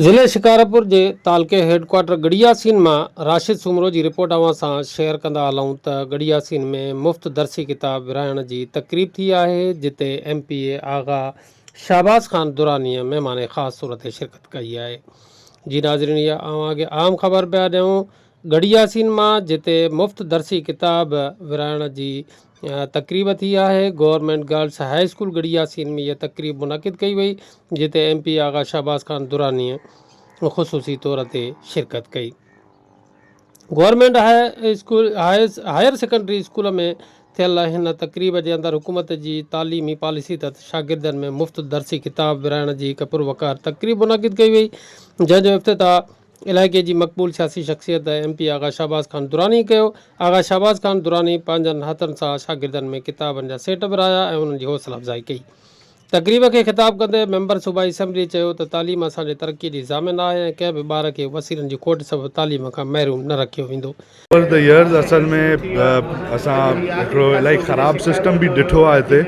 ضلعي شڪارپور جي تعلقي هيڊ ڪوارٽر ڳڙهي ياسين مان راشد سومرو جي رپورٽ اوهان سان شيئر ڪندا هلون ته ڳڙهي ياسين ۾ مفت درسي ڪتاب ورهائڻ جي تقريب ٿي آهي جتي M P A Agha Shahbaz Khan درانيء مهمان خاص طور تي شرڪت ڪئي آهي جي ناظرين اها اوهان کي اهم خبر پيا ڏيون ڳڙهي ياسين مان جتي مفت درسي ڪتاب ورهائڻ جي تقريب ٿي آهي government girls high school Garhi Yasin ۾ اها تقريب منعقد ڪئي وئي جتي ايم پي آغا شهباز خان درانيء خصوصي طور تي شرڪت ڪئي government high school higher secondary school ۾ ٿيل هن تقريب جي اندر حڪومت جي تعليمي پاليسي تحت شاگردن ۾ مفت درسي ڪتاب ورهائڻ جي هڪ پروقار تقريب منعقد ڪئي وئي جنهن جو افتتاح علائقي جي مقبول سياسي شخصيت ايم پي آغا شهباز خان دراني ڪيو. آغا شهباز خان دراني پنهنجن هٿن سان شاگردن ۾ ڪتابن جا سيٽ ورهايا ۽ انهن جي حوصلا افزائي ڪئي. تقريب کي خطاب ڪندي ميمبر صوبائي اسيمبلي چيو ته تعليم اسان جي ترقي جي ضامن آهي ۽ ڪنهن به ٻار کي وسيلن جي کوٽ سبب تعليم کان محروم نه رکيو ويندو. اوور دا ايئرز اصل ۾ اسان هڪڙو الائي خراب سسٽم به ڏٺو آهي هتي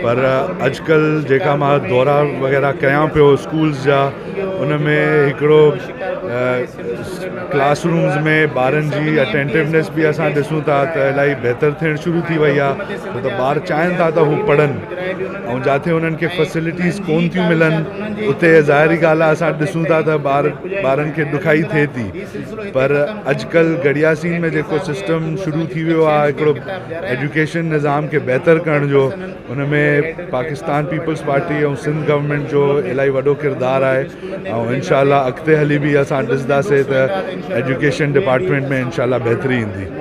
پر اڄڪلهه جيڪا مان دورا وغيره ڪيان پيو اسڪولز جا ان ۾ هڪڙو ڪلاس رومز ۾ ٻارن جي اٽينٽونيس به اسان ڏسون ٿا ته الائي بهتر ٿيڻ شروع ٿي وئي آهي ڇو ته ٻار چاهين ٿا ته هو پڙهن ۽ جاٿي انهن کي فيسلٽيز ڪون ٿيون ملن اتي ظاهري ڳالهه آهي اسان ڏسون ٿا ته ٻار ٻارن کي ڏکائي ٿئي ٿي پر اڄڪلهه گڏياسين ۾ جيڪو سسٽم شروع ٿي ويو آهي هڪڙو ايجوڪيشن نظام کي بهتر ڪرڻ جو ان ۾ پاڪستان پيپلز پارٽي ۽ سنڌ گورنمينٽ جو الاهي وڏو ڪردار آهي ۽ انشاء الله اڳتي هلي به اسان ڏسنداسين ته ايجوڪيشن ڊپارٽمينٽ ۾ انشاء الله بهتري ايندي